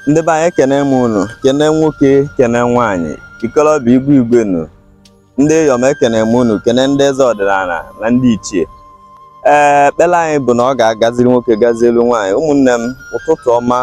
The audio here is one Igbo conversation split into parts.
ndị be anyị ekene m unu kene nwoke kene nwaanyị ikolobịa igwe igwe nu ndị eyom ekene m unu kene ndị eze ọdịnala na ndị ichie ee ekpere anyị bụ na ọ ga-agaziri nwoke gazielụ nwaanyị ụmụnne m ụtụtụ ọma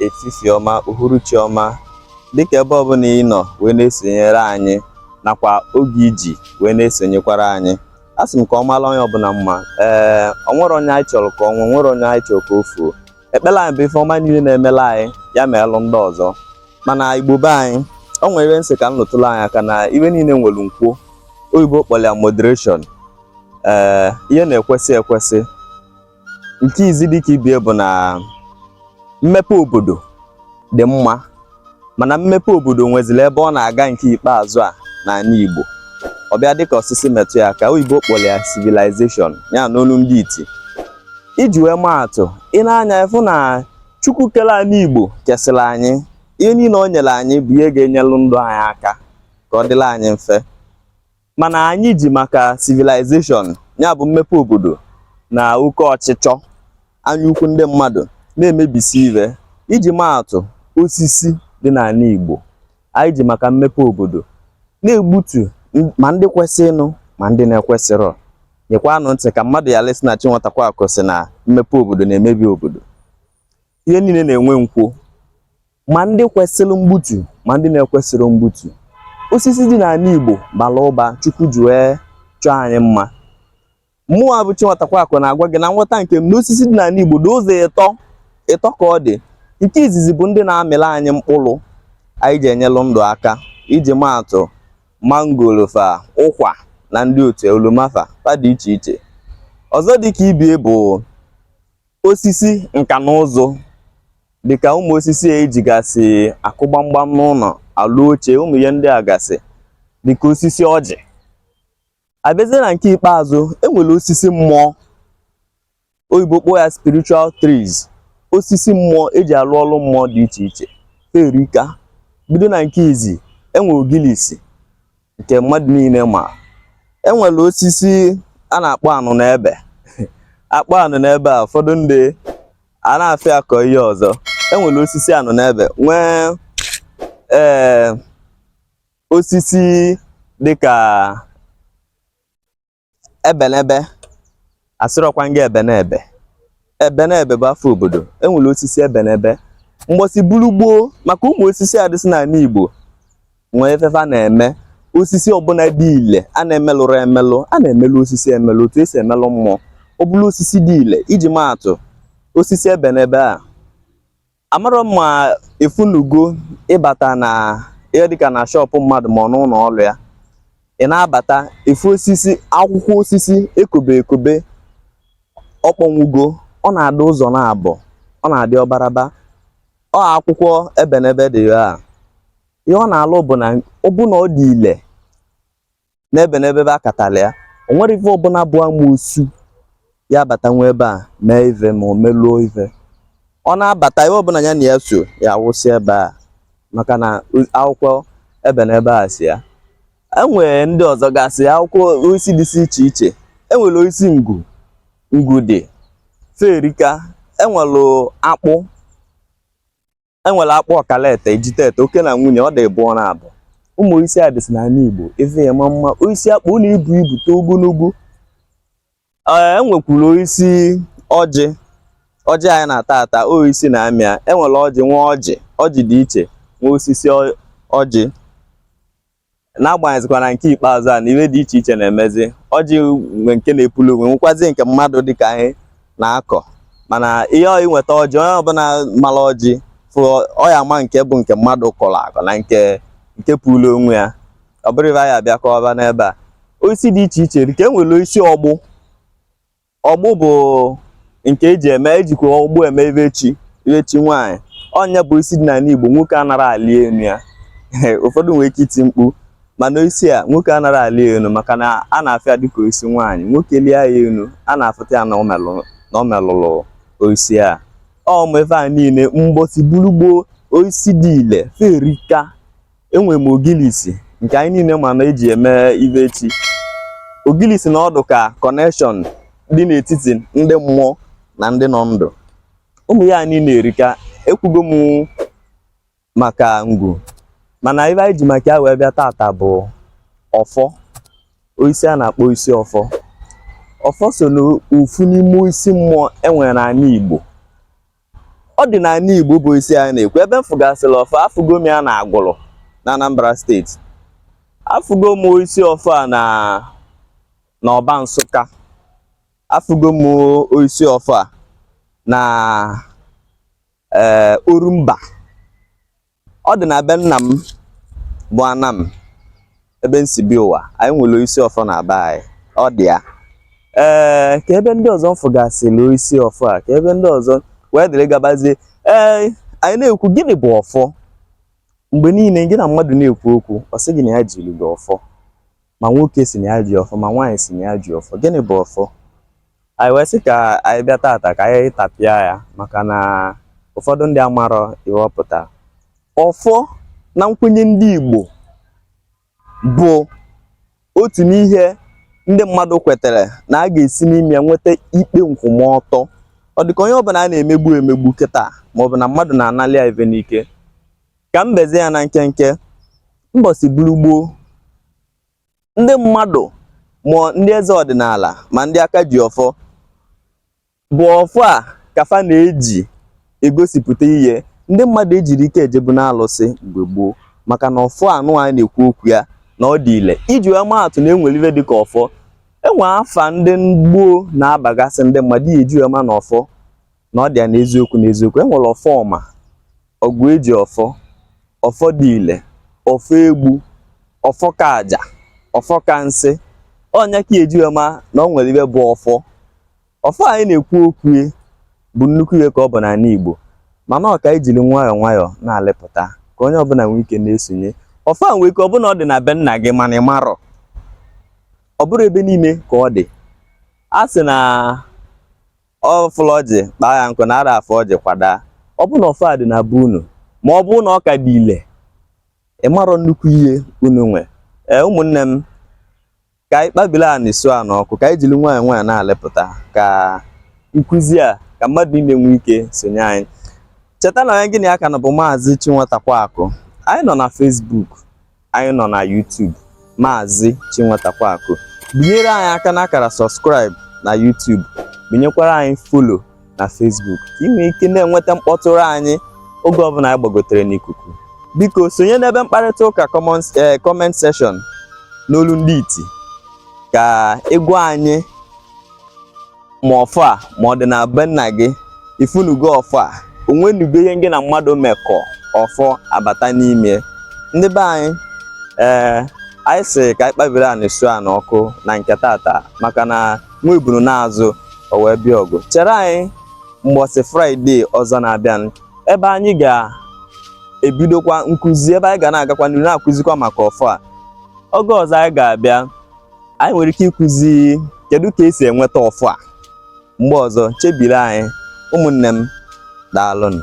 efifie ọma uhuruchi ọma dịka ebe ọbụla ị nọ wee na-esonyere anyị nakwa oge i ji wee na-esonyekwara anyị a sị m ka ọ mara onye ọbụla mma ee o nwere onye anyị chọrọ ka ọ nwụọ nwere onye anyị chọrọ ka o fuo ekpere anyị bụ ife ọma niile na-emela anyị ya meelụ ndị ọzọ mana igbo be anyị o nwere ife m sị ka m lụtụrụ anyị aka na ife niile nwere nkwo oyibo kpọrọ ya moderation ee ihe na-ekwesị ekwesị nke izi dịka ibie bụ na mmepe obodo dị mma mana mmepe obodo nweziri ebe ọ na-aga nke ikpeazụ a n'ala Igbo ọ bịa dịka osisi metụ ya aka oyibo kpọrọ ya civilization ya n'olu ndị iti iji wee maa atụ i nee anya ị fụ na Chukwu kere anị Igbo kesịrị anyị ihe niile o nyere anyị bụ ihe ga-enyelụ ndụ anyị aka ka ọ dịla anyị mfe mana anyị ji maka civilization ya bụ mmepe obodo na oke ọchịchọ anyaukwu ndị mmadụ na-emebisi ife iji maatụ osisi dị n'ala Igbo anyị ji maka mmepe obodo na-egbutu ma ndị kwesịrịnụ ma ndị na-ekwesịrọ nyekwanụ ntị ka mmadụ yala ịsị na Chinwatakwakụ sị na mmepe obodo na-emebi obodo ihe niile na-enwe nkwo ma ndị kwesịrị mgbutu ma ndị na-ekwesịrọ mgbutu osisi dị n'ala Igbo bara ụba Chukwu ji wee chọọ anyị mma mụwa bụ Chinwatakwakụ na-agwa gị na nghọta nke m na osisi dị n'ala Igbo dị ụzọ ịtọ ịtọ ka ọ dị nke izizi bụ ndị na-amịrị anyị mkpụrụ anyị ji enyelụ ndụ aka iji maatụ mangolo fa ụkwa na ndị otu oloma fa fa dị iche iche ọzọ dị ka ibie bụ osisi nka na ụzụ dịka ụmụ osisi a ejigasị akụ gbamgbam n'ụlọ alụ oche ụmụ ihe ndị a gasị dịka osisi ọjị a bịazie na nke ikpeazụ e nwere osisi mmụọ oyibo kpọọ ya spiritual trees osisi mmụọ eji alụ ọrụ mmụọ dị iche iche fa erika bido na nke izi e nwere ogilisi nke mmadụ niile ma e nwere osisi a na-akpọ anụnebe a kpọọ anụnebe a ụfọdụ ndị a na-afịa akọ ihe ọzọ e nwere osisi anụnebe nwee ee osisi dịka ebenebe asịrọkwa nga ebenebe ebenebe bụ afa obodo enwere osisi ebenebe mgbọsi buru gboo maka ụmụ osisi a dịsị n'ala Igbo nwee ife fa na-eme osisi ọbụla dị ile a na-emelụrụ emelụ a na-emelụ osisi emelụ otu esi emelụ mmụọ ọ bụrụ osisi dị ile iji maa atụ osisi ebenebe a amarọ m ma ị fụnụgo ịbata na ihe dịka na shọpụ mmadụ ma ọ n'ụlọ ọrụ ya ị na-abata ị fụ osisi akwụkwọ osisi ekobe ekobe ọ kpọnwụgo ọ na-adị ụzọ naabọ ọ na-adị ọbaraba ọ akwụkwọ ebenebe dị ya a. ihe ọ na-alụ bụ na ọ bụ na ọ dị ile n'ebenebe ebe a katala ya o nwerọ ife ọbụla bụ amoosu ya-abatanwu ebe a mee ife ma o meluo ife ọ na-abata ihe ọbụla ya na ya so ya wụsị ebe a maka na akwụkwọ ebenebe a si ya enwere ndị ọzọ gasị akwụkwọ osisi dịsị iche iche enwere osisi ngwu dị fa erika enwere akpụ enwere akpụ ọkalete ejitete oke na nwunye ọ dị ịbụọ na abụ ụmụ osisi a dịsị n'ala Igbo ife ya ma mma osisi akpụ na-ebu ibu too ogologo ee enwekwuru osisi ọjị ọjị anyị na-ata ata osisi na-amị ya enwere ọjị nwee ọjị ọjị dị iche nwee osisi ọjị n'agbanyeghịzikwa na nke ikpeazụ a na ihe dị iche iche na-emezi ọjị nwe nke na-epulu onwe nwekwazi nke mmadụ dịka anyị na-akọ mana ihe ọ ị nweta ọjị onye ọbụla mara ọjị fụ ya ama nke bụ nke mmadụ kọrọ akọ na nke puru onwe ya ọ bụrọ ife anyị bịa kọba n'ebe a osisi dị iche iche dịka e nwere osisi ọgbụ ọgbụ bụ nke eji eme ejikwa ọgbụ eme ife chi ife chi nwaanyị ọ nya bụ osisi dị n'ala Igbo nwoke anara alị enu ya ụfọdụ nwere ike iti mkpu mana osisi a nwoke anara alị enu maka na a na-afụ ya dịka osisi nwaanyị nwoke lịa ya enu a na-afụta ya na ọ melụrụ osisi a ụmụ ife a niile mgbọsi buru gboo osisi dị ile fa erika enwere m ogilisi nke anyị niile ma na eji eme ife chi ogilisi na-adị ka kọnekshọn dị n'etiti ndị mmụọ na ndị nọ ndụ ụmụ ihe a niile erika ekwugo m maka ngwu mana ife anyị ji maka ya wee bịa tata bụ ọfọ osisi a na-akpọ osisi ọfọ ọfọ so n'ofu n'ime osisi mmụọ enwere n'ala Igbo ọ dị n'ala Igbo bụ osisi anyị na-ekwu ebe m fụgasịrị ọfọ afụgo m ya na Agụlụ na Anambra steeti afụgo m osisi ọfọ a na na Ọba Nsụka afụgo m osisi ọfọ a na ee eh, Orumba ọ dị na be nna m bụ Anam ebe m si bịa ụwa anyị nwere isi ọfọ na be anyị ọ dị ya ee ka ebe ndị ọzọ m fụgasịrị isi ọfọ a ka ebe ndị ọzọ wee dịrị gabazie ee anyị na-ekwu gịnị bụ ọfọ mgbe niile gị na mmadụ na-ekwu okwu ọ sị gị na ya jiri gị ọfọ ma nwoke sị na ya ji ọfọ ma nwaanyị sị na ya ji ọfọ gịnị bụ ọfọ anyị wee sị ka anyị bịa tata ka anyị tapịa ya maka na ụfọdụ ndị amarọ ihe ọ pụta ọfọ na nkwenye ndị Igbo bụ otu n'ihe ndị mmadụ kwetere na a ga-esi n'ime ya nweta ikpe nkwụmọtọ ọ dịka onye ọbụla a na-emegbu emegbu kịta maọbụ na mmadụ na-analị ya ife n'ike ka m bezie ya na nkenke mbọsị bụrụ gboo ndị mmadụ ma ndị eze ọdịnala ma ndị aka ji ọfọ bụ ọfọ a ka fa na-eji egosipụta ihe ndị mmadụ ejirọ ike ejebu n'alụsị mgbe gboo maka na ọfọ anụ anyị na-ekwu okwu ya na ọ dị ile iji wee maa atụ na enwere ife dịka ọfọ enwe afa ndị gboo na-abagasị ndị mmadụ iji wee ma na ọfọ na ọ dị ya n'eziokwu n'eziokwu e nwere Ọfọma Ọgụejiọfọ Ọfọdile Ọfọegbu Ọfọkaja Ọfọkansị ọ nya ka eji wee ma na ọ nwere ife bụ ọfọ ọfọ anyị na-ekwu okwu ya bụ nnukwu ihe ka ọ bụ n'ala Igbo mana ọ ka anyị jiri nwayọọ nwayọọ na-alepụta ka onye ọbụla nwee ike na-esonye ọfọ a nwee ike ọ bụ na ọ dị na be nna gị mana ị marọ ọ bụrọ ebe niile ka ọ dị a sị na ọ fụlụ ọjị kpaa ya nkụ na ada afụ ọjị kwadaa ọ bụ na ọfọ a dị na be unu ma ọ bụ na ọ ka dị ile ị marọ nnukwu ihe unu nwe ee ụmụnne m ka anyị kpabili anị su a n'ọkụ ka anyị jiri nwayọọ nwayọọ na-alepụta ka nkụzi a ka mmadụ niile nwee ike sonye anyị cheta na onye gị na ya ka nọ bụ maazị Chinwatakweakụ anyị nọ na Facebook anyị nọ na YouTube Maazị Chinwatakweakụ binyere anyị aka n'akara subscribe na YouTube binyekwara anyị follow na Facebook ka ị nwee ike na-enweta mkpọtụrụ anyị oge ọbụla anyị gbagotere n'ikuku biko sonye n'ebe mkparịta ụka eh, comment section n'olu ndị iti ka ị gwa anyị ma ọfọ a ma ọ dị na be nna gị ị fụnugo ọfọ a o nwenugo ihe gị na mmadụ mekọ ọfọ abata n'ime ndị be anyị ee anyị sị ka anyị kpabiri anị su a n'ọkụ na nke tata maka na nwa ebunu naa azụ o wee bịa ọgụ chere anyị mbọsị Friday ọzọ na-abịa ebe anyị ga-ebidokwa nkụzi ebe anyị ga na-agakwa n'ihu na-akụzikwa maka ọfọ a oge ọzọ anyị ga-abịa anyị nwere ike ịkụzi kedu ka esi enweta ọfọ a mgbe ọzọ chebiri anyị ụmụnne m daalụnụ